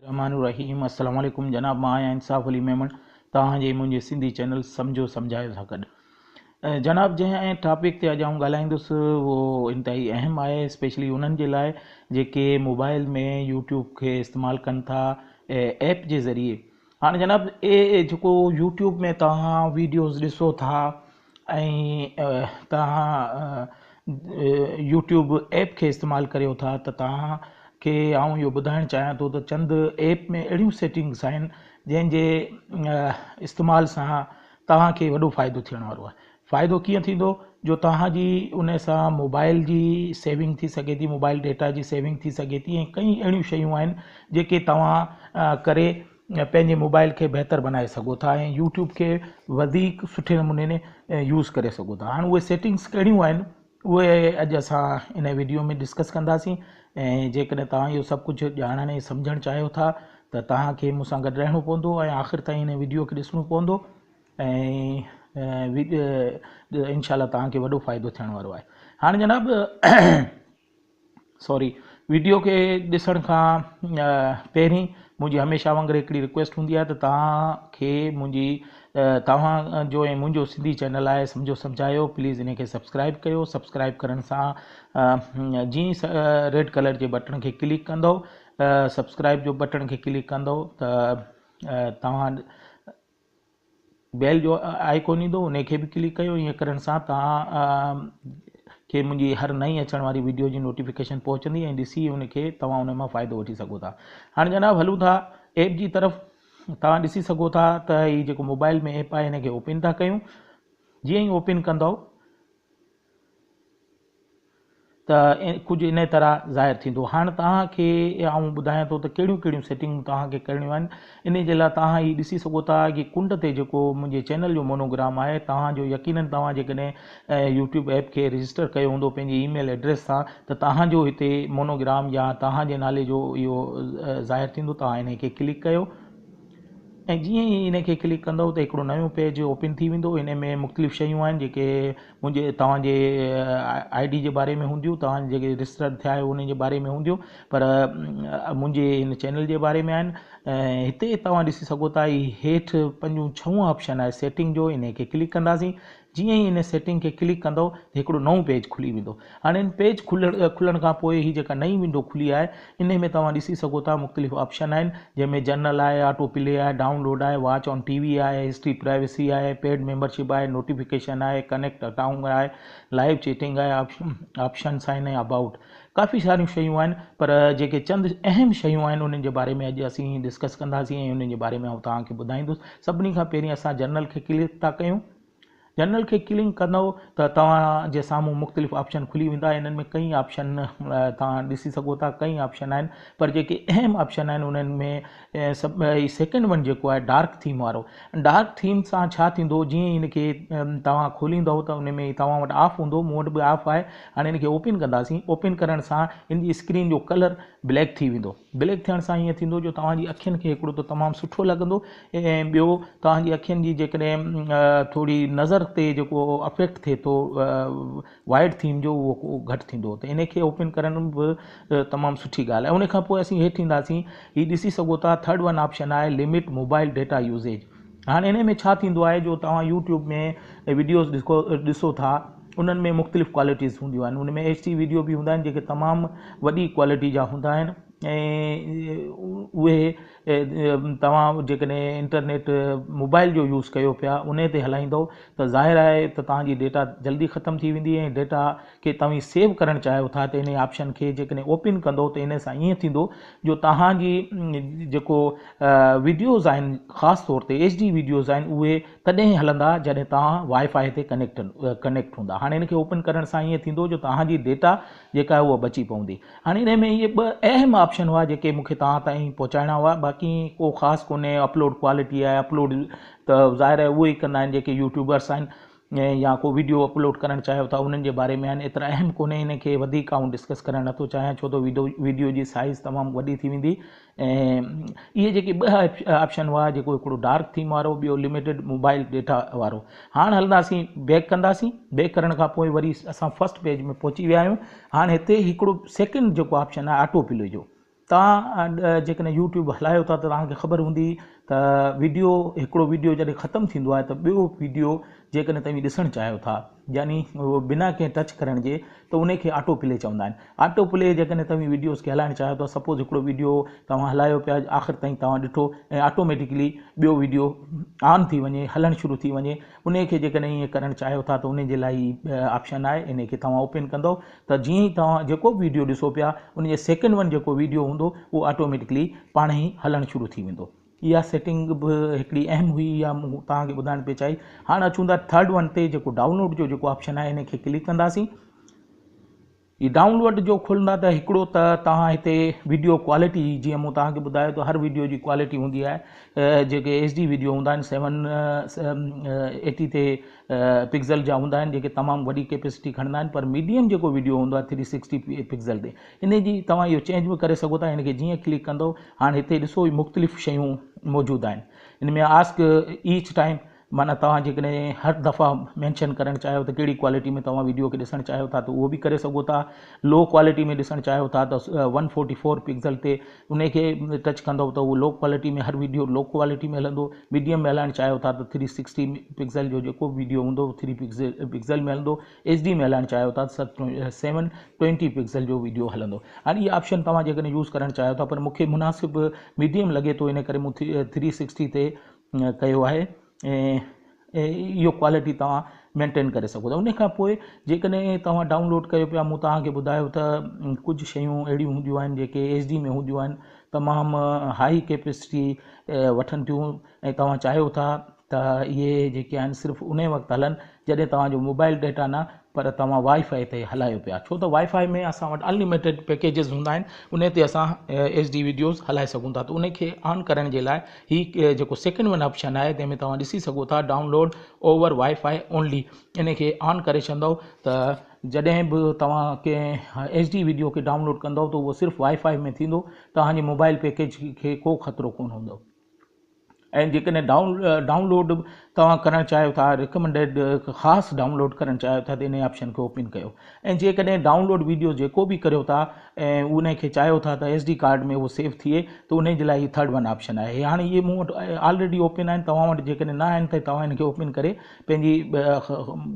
الرحمان الرحيم السلام عليڪم جناب مان آهيان انصاف علي ميمڻ توهان جي منهنجي سنڌي چينل سمجهو سمجهايو سان گڏ جناب جنهن ٽاپڪ تي اڄ آئون ڳالهائيندس اهو انتهائي اهم آهي اسپيشلي انهن جي لاء جيڪي موبائل ۾ يوٽيوب کي استعمال ڪن ٿا ايپ جي ذريعي هاڻي جناب اي جيڪو يوٽيوب ۾ توهان ويڊيوز ڏسو ٿا ۽ توهان يوٽيوب ايپ کي استعمال ڪريو ٿا ته توهان کي آئون اهو ٻڌائڻ چاهيان ٿو ته چند ايپ ۾ اهڙيون سيٽنگس آهن جنهن جي استعمال سان توهان کي وڏو فائدو ٿيڻ وارو آهي فائدو ڪيئن ٿيندو جو توهان جي ان سان موبائل جي سيونگ ٿي سگهي ٿي موبائل ڊيٽا جي سيونگ ٿي سگهي ٿي ۽ ڪئين اهڙيون شيون آهن جيڪي توهان ڪري پنهنجي موبائل کي بهتر بنائي سگهو ٿا ۽ يوٽيوب کي وڌيڪ سٺي نموني يوز ڪري سگهو ٿا هاڻ اهي سيٽنگس ڪهڙيون آهن اهي اڄ اسان ان ويڊيو ۾ ڊسڪس ڪنداسين ۽ جيڪڏهن توهان اهو سڀ ڪجهه ڄاڻڻ ۽ سمجهڻ چاهيو ٿا ته توهان کي مون سان گڏ رهڻو پوندو ۽ آخر تائين ان ويڊيو کي ڏسڻو پوندو ۽ انشاء الله توهان کي وڏو فائدو ٿيڻ وارو آهي هاڻ جناب سوري ويڊيو کي ڏسڻ کان پهرين منهنجي هميشه وانگر هڪڙي رڪويسٽ هوندي آهي ته توهان کي منهنجي توهان جو ۽ منهنجو سنڌي چينل آهي سمجهو سمجهايو پليز ان کي سبسڪرائب ڪيو سبسڪرائب ڪرڻ سان جي ريڊ ڪلر جي بٽڻ کي ڪلڪ ڪندو سبسڪرائب جو بٽڻ کي ڪلڪ ڪندو ته توهان بيل جو آئيڪون ايندو ان کي به ڪلڪ ڪيو ائين ڪرڻ سان توهان کي منهنجي هر نئين اچڻ واري ويڊيو جي نوٽيفڪيشن پهچندي ۽ ڏسي ان کي توهان ان مان فائدو وٺي سگهو ٿا هاڻي جناب هلون ٿا ايپ جي طرف توهان ڏسي سگهو ٿا ته هي جيڪو موبائل ۾ ايپ آهي هن کي اوپن ٿا ڪيون جيئن ئي اوپن ڪندو ته ڪجهه انهيء طرح ظاهر ٿيندو. هاڻ توهان کي آئون ٻڌايان ٿو ته ڪهڙيون ڪهڙيون سيٽنگون توهان کي ڪرڻيون آهن. انهيء جي لاء توهان هي ڏسي سگهو ٿا هي ڪنڊ تي جيڪو منهنجي چينل جو مونوگرام آهي توهان جو يقينن توهان جيڪڏهن يوٽيوب ايپ کي رجسٽر ڪيو هوندو پنهنجي اي ميل ايڊريس سان ته توهان جو هتي مونوگرام يا توهان جي نالي جو اهو ظاهر ٿيندو توهان انهيء کي ڪلڪ ڪيو ۽ جيئن ئي ان کي ڪلڪ ڪندؤ ته هڪڙو نيون پيج اوپن ٿي ويندو ان ۾ مختلف شيون آهن جيڪي منهنجي توهان جي آء ڊي جي باري ۾ هونديون توهان جيڪي رجسٽرڊ ٿيا آهيو ان جي باري ۾ هونديون پر منهنجي ان چينل جي باري ۾ آهن ۽ هتي توهان ڏسي سگهو ٿا هي هيٺ پنجون ڇهون آپشن آهي سيٽنگ جو ان کي ڪلڪ ڪنداسين جيئن ئي ان سيٽنگ کي ڪلڪ ڪندؤ ته هڪڙو نئون پيج کلي ويندو. هاڻي ان پيج کلڻ کان پوء هي جيڪا نئين ونڊو کلي آهي انهي ۾ توهان ڏسي سگهو ٿا مختلف آپشن آهن جنهن ۾ جنرل آهي، آٽو پلي آهي، ڊائون لوڊ آهي، واچ آن ٽي وي آهي، هسٽري پرائيويسي آهي، پيڊ ميمبرشپ آهي، نوٽيفڪيشن آهي، ڪنيڪٽ اڪائونٽ آهي، لائيو چيٽنگ آهي، آپشنس آهن ۽ ابائوٽ ڪافي ساريون شيون آهن پر جيڪي چند اهم شيون آهن انهن جي باري ۾ اڄ اسين ڊسڪس ڪنداسين ۽ انهن جي باري ۾ آئون توهان کي ٻڌائيندس سڀني کان پهرين اسان جنرل کي ڪلڪ ٿا ڪيون. جنرل کي ڪلنڪ ڪندؤ ته توهان جي سامهون مختلف آپشن کلي ويندا انهن ۾ ڪئين آپشن توهان ڏسي سگهو ٿا ڪئين آپشن آهن پر جيڪي اهم آپشن آهن انهن ۾ سب سيڪنڊ ون جيڪو آهي ڊارڪ ٿيم وارو ڊارڪ ٿيم سان ڇا ٿيندو جيئن ان کي توهان کوليندؤ ته ان ۾ توهان وٽ آف هوندو مون وٽ به آف آهي هاڻي ان کي اوپن ڪنداسين اوپن ڪرڻ سان ان جي اسڪرين جو ڪلر بليڪ ٿي ويندو بليڪ ٿيڻ سان ائين ٿيندو جو توهان جي اکين کي هڪڙو ته تمام سٺو لڳندو ۽ ٻيو توهان جي اکين جي جيڪڏهن ٿوري نظر تي جيڪو افيڪٽ ٿئي ٿو وائيڊ ٿيم جو اهو ڪو گهٽ ٿيندو ته ان کي اوپن ڪرڻ به تمام سٺي ڳالهه آهي ان کان پوء اسين هيٺ اينداسين هي ڏسي سگهو ٿا ٿرڊ ون آپشن آهي لمٽ موبائل ڊيٽا يوزيج هاڻ انهي ۾ ڇا ٿيندو آهي جو توهان يوٽيوب ۾ وڊيوز ڏسو ٿا انهن ۾ مختلف ڪوالٽيز هونديون آهن ان ۾ ايڇ ڊي وڊيو به هوندا آهن جيڪي تمام وڏي ڪوالٽي جا هوندا آهن ۽ اهي توهان جيڪڏهن انٽرنيٽ موبائل جو يوز ڪيو پيا انهي تي هلائيندو ته ظاهر آهي ته تهانجي ڊيٽا جلدي ختم ٿي ويندي ۽ ڊيٽا کي توهين سيو ڪرڻ چاهيو ٿا ته انهي آپشن کي جيڪڏهن اوپن ڪندو ته انهي سان ائين ٿيندو جو توهان جي جيڪو ويڊيوز آهن خاص طور تي HD ويڊيوز آهن اهي تڏهن ئي هلندا جڏهن توهان وائي فائي تي ڪنيڪٽ ڪنيڪٽ هوندا هاڻي ان کي اوپن ڪرڻ سان ائين ٿيندو جو توهان جي ڊيٽا جيڪا آهي اها بچي پوندي هاڻي انهي ۾ اهي ٻه اهم آپشن هئا جيڪي مون کي توهان تائين پهچائڻا هئا باقي ڪو خاص ڪونهي اپلوڊ ڪوالٽي آهي اپلوڊ ته ظاهر آهي اهو ئي ڪندا آهن جيڪي يوٽيوبرس آهن ۽ يا ڪو ويڊيو اپلوڊ ڪرڻ چاهيو ٿا انهن جي باري ۾ آهن ايترا اهم ڪونهي ان کي وڌيڪ آئون ڊسڪس ڪرڻ نٿو چاهيان ڇو ته ويڊيو جي سائيز تمام وڏي ٿي ويندي ۽ اهي جيڪي ٻه آپشن هئا جيڪو هڪڙو ڊارڪ ٿيم وارو ٻيو لميٽيڊ موبائل ڊيٽا وارو هاڻ هلنداسين بيڪ ڪنداسين بيڪ ڪرڻ کان پوء وري اسان فرسٽ پيج ۾ پهچي ويا آهيون هاڻ هتي هڪڙو سيڪنڊ جيڪو آپشن آهي آٽو پلي جو توهان جيڪڏهن يوٽيوب هلايو ٿا ته توهان کي خبر هوندي ته ويڊيو هڪڙو ويڊيو جڏهن ختم ٿيندو آهي ته ٻيو ويڊيو جيڪڏهن توهين ڏسڻ چاهيو ٿا يعني بنا ڪنهن ٽچ ڪرڻ جي ته ان کي آٽو پلي چوندا آهن آٽو پلي جيڪڏهن توهين ويڊيوز کي هلائڻ چاهيو ٿا سپوز هڪڙو ويڊيو توهان هلايو پيا آخر تائين توهان ڏٺو ۽ آٽوميٽڪلي ٻيو ويڊيو آن ٿي وڃي هلڻ شروع ٿي وڃي انهي کي جيڪڏهن ائين ڪرڻ چاهيو ٿا ته انهي جي لاء هي آپشن آهي انهي کي توهان اوپن ڪندو ته جيئن ئي توهان جيڪو به ويڊيو ڏسو پيا ان جي سيڪنڊ ون جيڪو ويڊيو هوندو اهو آٽوميٽڪلي پاڻ ئي هلڻ شروع ٿي ويندو. اها سيٽنگ به هڪڙي اهم هئي اها مون توهان کي ٻڌائڻ پئي چاهي. هاڻ اچون ٿا ٿرڊ ون تي جيڪو ڊائونلوڊ جو جيڪو آپشن آهي انهي کي ڪلڪ ڪنداسين. هي ڊائونلوڊ جو کولندا ته هڪڙو ته توهان هتي ويڊيو ڪوالٽي جيئن مون توهان کي ٻڌايو ته هر ويڊيو جي ڪوالٽي هوندي آهي جيڪي ايچ ڊي ويڊيو هوندا آهن سيون ايٽي تي پڪزل جا هوندا آهن جيڪي تمام وڏي ڪيپيسٽي کڻندا آهن پر ميڊيم جيڪو ويڊيو هوندو آهي ٿري سڪسٽي پڪزل تي ان جي توهان اهو چينج به ڪري سگهو ٿا ان کي جيئن ڪلڪ ڪندو هاڻ هتي ڏسو مختلف شيون موجود آهن ان ۾ آسڪ ايچ ٽائيم معنيٰ توهان جيڪڏهن هر دفعا مينشن ڪرڻ چاهيو ته ڪهڙي ڪوالٽي ۾ توهان وڊيو کي ڏسڻ چاهيو ٿا ته اهو به ڪري سگهو ٿا لو ڪوالٽي ۾ ڏسڻ چاهيو ٿا ته ون فورٽي فور پڪسل تي ان کي ٽچ ڪندو ته اهو لو ڪوالٽي ۾ هر وڊيو لو ڪوالٽي ۾ هلندو ميڊيم ۾ هلائڻ چاهيو ٿا ته ٿري سڪسٽي پڪسل جو جيڪو به وڊيو هوندو اهو ٿري پڪسل ۾ هلندو ايچ ڊي ۾ هلائڻ چاهيو ٿا ته سيون ٽوينٽي پڪسل جو وڊيو هلندو هاڻي هي آپشن توهان جيڪڏهن يوز ڪرڻ چاهيو ٿا پر مونکي مناسب ميڊيم لڳي ٿو ان ڪري مون ٿري سڪسٽي تي ڪيو آهي ۽ اهو ڪوالٽي توهان مينٽين ڪري سگهو ٿا ان کان پوء جيڪڏهن توهان ڊائونلوڊ ڪيو پيا مون توهانکي ٻڌايو ته ڪجهه شيون اهڙيون هونديون آهن جيڪي ايچ ڊي ۾ هونديون آهن تمام هائي ڪيپسٽي وٺن ٿيون ۽ توهان چاهيو ٿا ته اهي جيڪي آهن صرف ان وقت هلن جڏهن توهان جو موبائل ڊيٽا نه پر توهان وائي فائي تي هلايو پيا ڇو ته وائي فائي ۾ اسان وٽ انلميٽيڊ پيڪيجز هوندا آهن انهي تي اسان ايچ ڊي ويڊيوز هلائي سگهون ٿا ته انهي کي آن ڪرڻ جي لاء هي جيڪو سيڪنڊ ون آپشن آهي تنهن ۾ توهان ڏسي سگهو ٿا download over Wi-Fi only انهي کي آن ڪري ڇڏندو ته جڏهن به توهان ڪنهن ايچ ڊي ويڊيو کي ڊائونلوڊ ڪندو ته اهو صرف وائي فائي ۾ ٿيندو توهان جي موبائل پيڪيج کي ڪو خطرو ڪون هوندو ۽ جيڪڏهن ڊائون لوڊ توهان ڪرڻ چاهيو ٿا رڪمنڊيڊ خاص ڊائون لوڊ ڪرڻ چاهيو ٿا ته ان آپشن کي اوپن ڪيو ۽ جيڪڏهن ڊائون لوڊ ويڊيو جيڪو به ڪريو ٿا ۽ ان کي چاهيو ٿا ته ايس ڊي ڪارڊ ۾ اهو سيو ٿئي ته ان جي لاء هي ٿرڊ ون آپشن آهي هاڻي اهي مون وٽ آلريڊي اوپن آهن توهان وٽ جيڪڏهن نه آهن ته توهان ان کي اوپن ڪري پنهنجي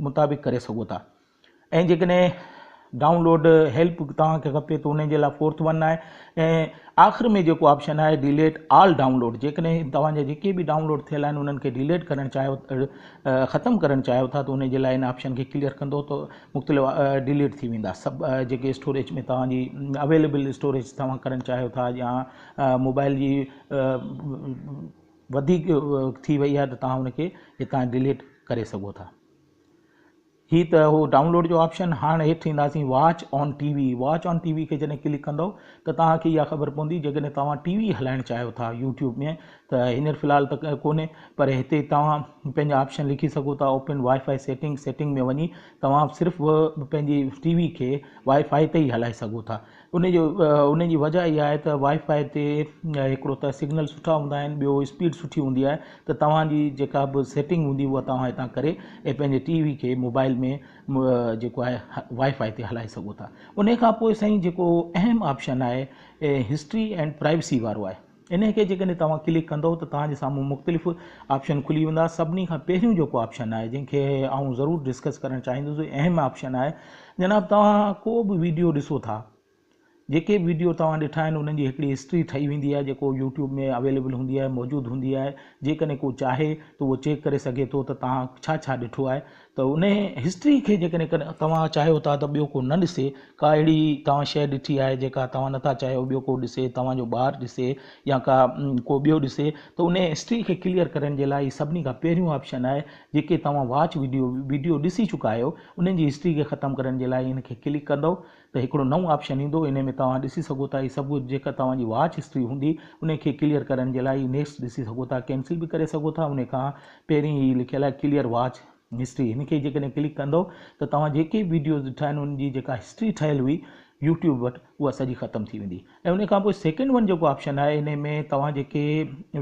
مطابق ڪري سگهو ٿا ۽ جيڪڏهن ڊائون لوڊ هيلپ توهان کي کپي ته ان جي لاء فورٿ ون آهي ۽ آخر ۾ جيڪو آپشن آهي ڊيليٽ آل ڊائون لوڊ جيڪڏهن توهان جا جيڪي به ڊائون لوڊ ٿيل آهن انهن کي ڊيليٽ ڪرڻ چاهيو ختم ڪرڻ چاهيو ٿا ته ان جي لاء ان آپشن کي ڪليئر ڪندو ته مختلف ڊيليٽ ٿي ويندا سڀ جيڪي اسٽوريج ۾ توهان جي اويليبل اسٽوريج توهان ڪرڻ چاهيو ٿا يا موبائل جي وڌيڪ ٿي وئي آهي ته توهان ان کي هتان ڊيليٽ ڪري سگهو ٿا هي ته هو ڊائونلوڊ جو آپشن هاڻ هيٺ اينداسين watch on T V watch on T V کي جڏهن ڪلڪ ڪندو ته توهان کي اها خبر پوندي جيڪڏهن توهان ٽي وي هلائڻ چاهيو ٿا يوٽيوب ۾ ته هينئر في الحال ته ڪونهي پر هتي توهان پنهنجا آپشن لکي سگهو ٿا open Wi-Fi setting setting ۾ وڃي توهان صرف پنهنجي ٽي وي کي وائي فائي تي ئي هلائي سگهو ٿا ان جو ان جي وجه اها آهي ته وائي فائي تي هڪڙو ته سگنل سٺا هوندا آهن ٻيو اسپيڊ سٺي هوندي آهي ته توهان جي جيڪا به سيٽنگ هوندي اها توهان هتان ڪري ۽ پنهنجي ٽي وي کي موبائل ۾ جيڪو آهي وائي فائي تي هلائي سگهو ٿا ان کان پوء سائين جيڪو اهم آپشن آهي هسٽري اينڊ پرائيوسي وارو آهي انهي کي جيڪڏهن توهان ڪلڪ ڪندؤ ته توهان جي سامهون مختلف آپشن کلي ويندا سڀني کان پهريون جيڪو آپشن آهي جنهن کي آئون ضرور ڊسڪس ڪرڻ چاهيندس اهم آپشن آهي جناب توهان ڪو به ويڊيو ڏسو ٿا جيڪي به ويڊيو توهان ڏٺا آهن انهن جي هڪڙي هسٽري ٺهي ويندي آهي جيڪو يوٽيوب ۾ اويليبل هوندي آهي موجود هوندي آهي جيڪڏهن ڪو چاهي ته اهو چيڪ ڪري سگهي ٿو ته توهان ڇا ڇا ڏٺو آهي ته ان هسٽري کي جيڪڏهن توهان چاهيو ٿا ته ٻيو ڪو نه ڏسي، ڪا اهڙي توهان شيء ڏٺي آهي جيڪا توهان نٿا چاهيو ٻيو ڪو ڏسي، توهان جو ٻار ڏسي يا ڪا ڪو ٻيو ڏسي ته ان هسٽري کي ڪليئر ڪرڻ جي لاء هي سڀني کان پهريون آپشن آهي جيڪي توهان واچ وڊيو وڊيو ڏسي چڪا آهيو انهن جي هسٽري کي ختم ڪرڻ جي لاء ان کي ڪلڪ ڪندؤ ته هڪڙو نئون آپشن ايندو انهي ۾ توهان ڏسي سگهو ٿا هي سڀ ڪجهه جيڪا توهان جي واچ هسٽري هوندي انهي کي ڪليئر ڪرڻ جي لاء هي نيڪسٽ ڏسي سگهو ٿا ڪينسل به ڪري سگهو ٿا انهي کان پهرين هي لکيل آهي ڪليئر واچ هسٽري هن کي جيڪڏهن ڪلڪ ڪندو ته توهان جيڪي ويڊيوز ڏٺا آهن ان جي جيڪا هسٽري ٺهيل هئي يوٽيوب وٽ اها سڄي ختم ٿي ويندي ۽ انهي کان پوء سيڪنڊ ون جيڪو آپشن آهي انهي ۾ توهان جيڪي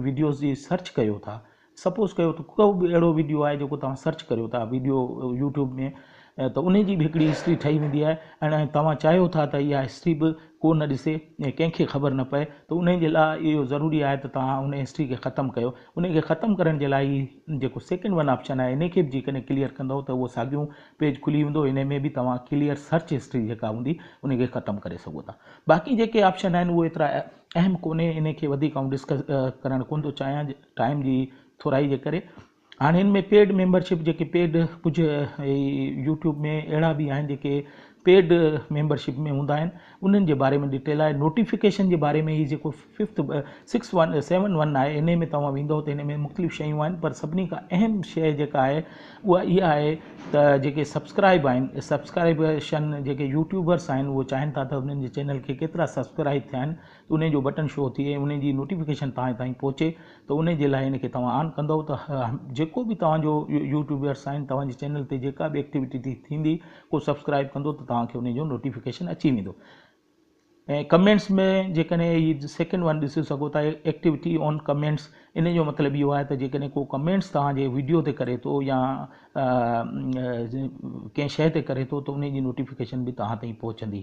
ويڊيوز جي سرچ ڪيو ٿا سپوز ڪيو ته ڪو به اهڙو ويڊيو آهي جيڪو توهان سرچ ڪريو ٿا ويڊيو يوٽيوب ۾ ته ان جي به هڪڙي هسٽري ٺهي ويندي آهي ۽ توهان چاهيو ٿا ته اها هسٽري به ڪو نه ڏسي ۽ ڪنهن کي خبر نه پئي ته ان جي لاء اهو ضروري آهي ته توهان ان هسٽري کي ختم ڪيو ان کي ختم ڪرڻ جي لاء هي جيڪو سيڪنڊ ون آپشن آهي ان کي به جيڪڏهن ڪليئر ڪندو ته اهو ساڳيو پيج کلي ويندو ان ۾ به توهان ڪليئر سرچ هسٽري جيڪا هوندي ان کي ختم ڪري سگهو ٿا باقي جيڪي آپشن آهن اهو ايترا اهم ڪونهي ان کي وڌيڪ آئون ڊسڪس ڪرڻ ڪونه ٿو چاهيان ٽائيم جي ٿورائي جي ڪري هاڻي ان ۾ پيڊ ميمبرشپ جيڪي پيڊ ڪجهه يوٽيوب ۾ اهڙا به آهن جيڪي پيڊ ميمبرشپ ۾ هوندا آهن انهن جي باري ۾ ڊيٽيل آهي نوٽيفڪيشن جي باري ۾ هي جيڪو fifth six one seven one آهي ان ۾ توهان ويندو ته هن ۾ مختلف شيون آهن پر سڀني کان اهم شي جيڪا آهي اها اها آهي ته جيڪي سبسڪرائب آهن سبسڪرائبشن جيڪي يوٽيوبرس آهن اهو چاهين ٿا ته انهن جي چينل کي ڪيترا سبسڪرائب ٿيا آهن انهي جو بٽن شو ٿئي ۽ انهي جي نوٽيفڪيشن توهان تائين پهچي ته انهي جي لاء ان کي توهان آن ڪندئو ته جيڪو به توهان جو يوٽيوبرس آهن توهان جي چينل تي جيڪا به ايڪٽيوٽي ٿي ٿيندي ڪو سبسڪرائب ڪندو ته توهان کي انهي جو نوٽيفڪيشن اچي ويندو ۽ ڪمينٽس ۾ جيڪڏهن هي سيڪنڊ ون ڏسي سگهو ٿا ايڪٽيوٽي آن ڪمينٽس انهي جو مطلب اهو آهي ته جيڪڏهن ڪو ڪمينٽس توهان جي ويڊيو تي ڪري ٿو يا ڪنهن شيء تي ڪري ٿو ته انهي جي نوٽيفڪيشن به توهان تائين پهچندي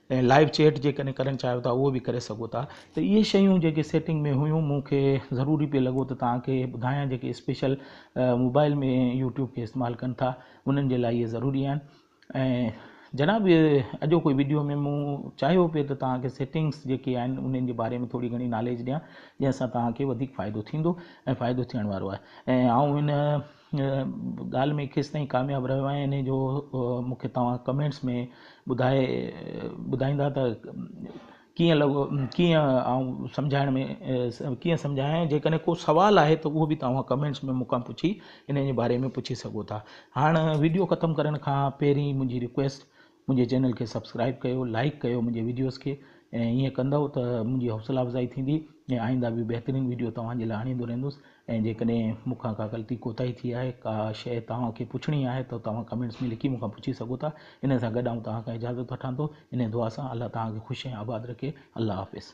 ۽ لائيو چيٽ جيڪڏهن ڪرڻ چاهيو ٿا اهو به ڪري سگهو ٿا ته اهي شيون جيڪي سيٽنگ ۾ هيون مون کي ضروري پئي لڳو ته توهان کي ٻڌايان جيڪي اسپيشل موبائل ۾ يوٽيوب کي استعمال ڪن ٿا انهن جي لاء اهي ضروري آهن ۽ جناب اڄوڪي ويڊيو ۾ مون چاهيو پئي ته توهان کي سيٽنگس جيڪي آهن انهن جي باري ۾ ٿوري گهڻي ناليج ڏيان جنهن سان توهان کي وڌيڪ فائدو ٿيندو ۽ فائدو ٿيڻ وارو آهي ۽ آئون هن ڳالهه ۾ ڪيستائين ڪامياب رهيو آهيان انهي جو مون کي توهان ڪمينٽس ۾ ٻڌائي ٻڌائيندا ته ڪيئن لڳو ڪيئن آئون سمجهائڻ ۾ ڪيئن سمجهايان جيڪڏهن ڪو سوال آهي ته اهو به توهان ڪمينٽس ۾ مون کان پڇي انهي جي باري ۾ پڇي سگهو ٿا هاڻ ويڊيو ختم ڪرڻ کان پهرين منهنجي رڪويسٽ منهنجي چينل کي سبسڪرائب ڪيو لائيڪ ڪيو منهنجي ويڊيوز کي ۽ ايئن ڪندئو ته منهنجي حوصلا افزائي ٿيندي ۽ آئنده به بهترين ويڊيو توهان جي لاء آڻيندو رهندس ۽ جيڪڏهن مون کان ڪا غلطي ڪوتاهي ٿي آهي ڪا شيء توهان کي پڇڻي آهي ته توهان ڪمينٽس ۾ لکي مون کان پڇي سگهو ٿا ان سان گڏ آئون توهان کان اجازت وٺان ٿو انهي دعا سان الله توهان کي خوش ۽ آباد رکي الله حافظ.